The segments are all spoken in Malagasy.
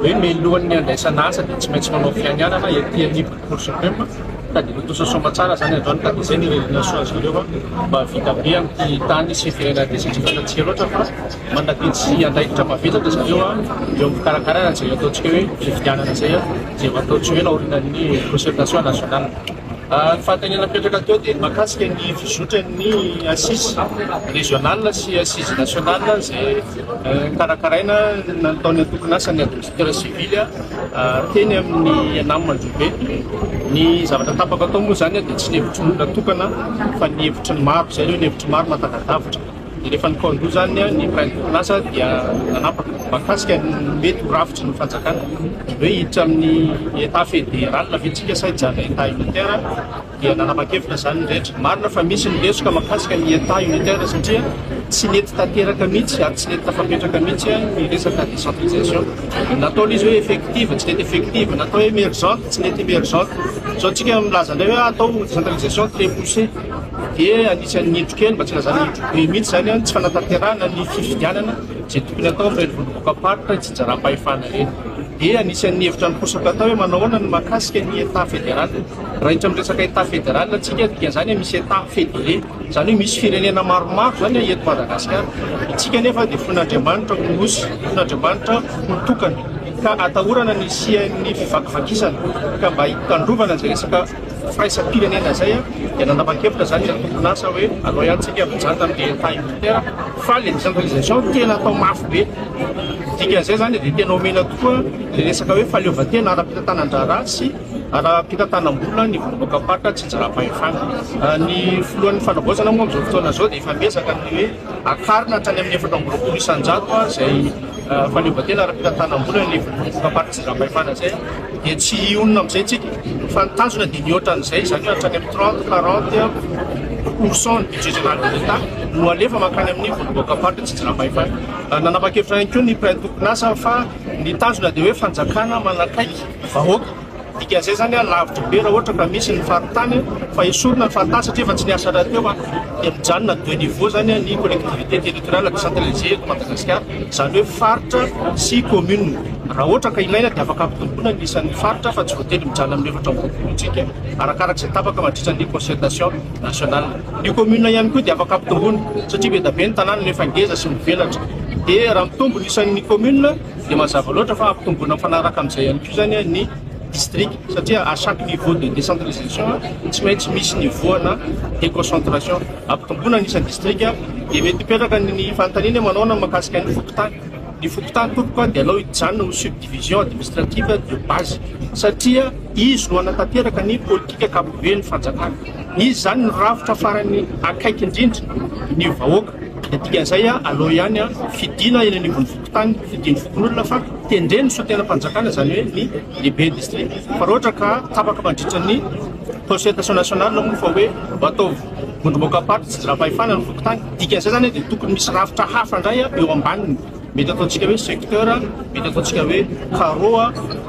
hoe mialohan'ny handraisana asa dia tsy maintsy manao fianianana ety anivon'ny Cour Supreme ka dia tontosa soamantsara izany androany ka dia izay no irenerana soa azy ireo mba vita be amin'ity tany sy firenena ity satria fantatsika loatra fa mandatetsy andraikitra mavesatra zareo eo amin'ny fikarakarana izay ataontsika hoe fifidianana izay izay ataontsika hoe naorinan'ny concertation nationale. Ny fanontaniana mipetraka teo dia ny mahakasika ny fizotran'ny Assises régionales sy Assises nationales izay karakaraina nataon'ny antokon'asan'ny Administrateur civil teny amin'ny Enam Mandrobe. Ny zavatra tapaka tao moa izany dia tsy ny hevitry ny olona tokana fa ny hevitry ny maro, izay ireo ny hevitry ny maro mahatagadavitra. Rehefa nikaon-doha izany ny Prime Plaza dia nanapaka mahakasika ny mety ho rafitry ny fanjakana. Ny hoe hiditra amin'ny Etat Fédéral ve tsika sa hijanona Etat Unitaire dia nanapa-kevitra izany ny rehetra. Marina fa misy ny lesoka mahakasika ny Etat Unitaire satria tsy nety tanteraka mihitsy ary tsy nety tafapetraka mihitsy ny resaka décentralisation. Natao ilay izy hoe effective, tsy nety effective, natao hoe emergente, tsy nety emergente. Izao tsika milaza indray hoe atao décentralisation très poussée. dia anisan'ny nidro kely, mba tsy ilazana hoe nidro be mihitsy izany, ny tsy fanatanterahana ny fifidianana izay tokony hatao amin'ireny vondrom-bokaparitra itsinjaram-pahefana ireny. Dia anisan'ny hevitra niposaka hatao hoe manao ahoana ny mahakasika ny Etat fédéral. Raiditra amin'ny resaka Etat fédéral isika, dikan'izany hoe misy Etat fédéré, izany hoe misy firenena maromaro izany an, eto Madagasikara. Isika anefa dia fon'Andriamanitra ho nosy, fon'Andriamanitra ho tokana, ka atahorana ny hisian'ny fivakivakisana, ka mba hitandrovana izay resaka. firaisam-pirenena izay dia nanapa-kevitra izany ilay tompon-asa hoe alao ihany tsika mijanta amin'ny DFA unitaire fa ilay décentralisation tena atao mafy be. Ny dikan'izay izany dia tena omena tokoa ilay resaka hoe fahaleovantena ara-pitantanan-draharaha sy ara-pitantanam-bola ny vondrom-boakamparitra tsinjaram-pahefana. Ny filohan'ny fanavaozana moa amin'izao fotoana izao dia efa miezaka ny hoe. Hakarina hatrany amin'ny efatra amby roapolo isan-jato izay fahaleovantena ara-pitantanam-bola ny vondrom-bolam-paritra sy zam-pahefana izay dia tsy hionona amin'izay isika fa ny tanjona dia ny hoatra an'izay izany hoe hatrany amin'ny trente, quarante pourcent ny budget général de l'Etat no alefa mankany amin'ny vondrom-boakam-paritra sy zam-pahefana. Nanapa-kevitra ihany koa ny mpiray tompon-asa fa ny tanjona dia hoe fanjakana manakaiky vahoaka. Dikan'izay izany an, lavitra be raha ohatra ka misy ny faritany fa esorina ny faritany satria efa tsy niasa rahateo an, dia mijanona deux niveaux izany an ny collectivité territoriale décentralisée eto Madagasikara, izany hoe faritra sy commune. Raha ohatra ka ilaina dia afaka ampitomboina ny isan'ny faritra fa tsy voatery mijanona amin'ny efatra amby roapolo isika arakaraka izay tapaka mandritra ny concertation nationale. Ny commune ihany koa dia afaka ampitomboina satria be dia be ny tanàna no efa ngeza sy mivelatra dia raha mitombo ny isan'ny commune, dia mazava loatra fa ampitomboina mifanaraka amin'izay ihany koa izany ny distrika satria à chaque niveau de décentralisation tsy maintsy misy nivoana déconcentration ampitomboina ny isan'ny distrika dia mety hipetraka ny fanontaniana manao na makasika ny fokontany ny fokontany tompoko dia alao hijanona ho subdivision administrative de base satria izy no hanatanteraka ny politika ankapobeny fanjakana izy izany ny rafitra farany akaiky indrindra ny vahoaka dia dikan'izay aloha ihany fidina eny anivon'ny tany fidian'ny fokonolona fa tendren'ny sotenam-panjakana izany hoe ny lehibe distrika fa raha ohatra ka tapaka mandritra ny consultation nationale na moa fa hoe ataovy vondromboka party tsy zirapahefana ny fokontany dikan'izay izany dia tokony misy rafitra hafa indray eo ambaniny mety ataontsika hoe secteur mety ataontsika hoe carreau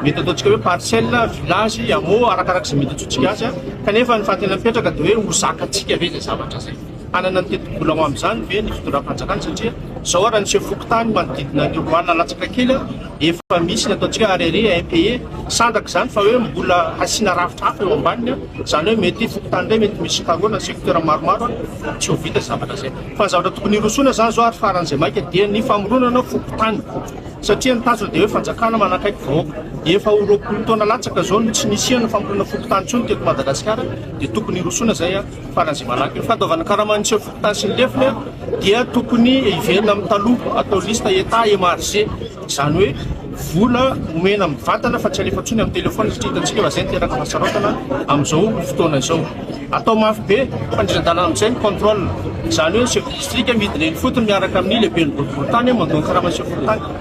mety ataontsika hoe parcelle village hameau arakaraka izay mety ataontsika azy kanefa ny fahatena mipetraka dia hoe ho zakantsika ve izay zavatra izay Hanana ny tetibola ho amin'izany ve ny fitondram-panjakana satria izao ary niseho fokontany manodidina an'io Roanina latsaka kely aho efa misy ny ataontsika arere impayé sandraka izany fa hoe mbola hasiana rafitra hafa eo ambaniny an izany hoe mety fokontany iray mety misy carreaux na secteur maromaro an tsy ho vita zavatra izay fa ny zavatra tokony hirosoana izany izao ary faran'izay maika dia ny famoronana fokontany satria ny tanjona dia hoe fanjakana manakaiky vahoaka efa ho roapolo taona latsaka izao no tsy nisiana famorona fokontany intsony teto Madagasikara dia tokony hirosoana izay an Farany malaky ny fandoavana karama ny seho fokontany sy ny lefiny dia tokony hiverina amin'ny taloha, atao liste Etat MRG, izany hoe vola omena mivantana fa tsy alefa intsony amin'ny telefaonina satria hitantsika fa izay no miteraka fahasaroatana amin'izao fotoana izao. Atao mafy be fandriran-dalana amin'izay ny contrôle, izany hoe ny chef de district midina eny fotony miaraka amin'ny lehiben'ny boriborintany mandoa ny karaman'ny seho fokontany.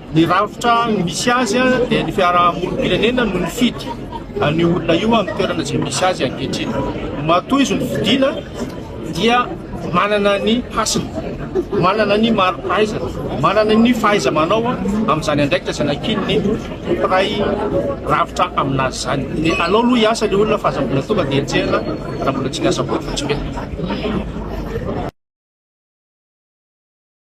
Ny rafitra misy azy dia ny fiarahamonim-pirenena no nifidy an'io olona io amin'ny toerana izay misy azy ankehitriny. Matoa izy nofidiana dia manana ny hasiny, manana ny mari-pahaizana, manana ny fahaiza-manao amin'izany andraikitra izay nankininy ny mpiray rafitra amin'azy izany. Dia alao aloha hiasa ilay olona fa aza mbola tonga dia enjehina raha mbola tsy niasa akory vao tsy mety.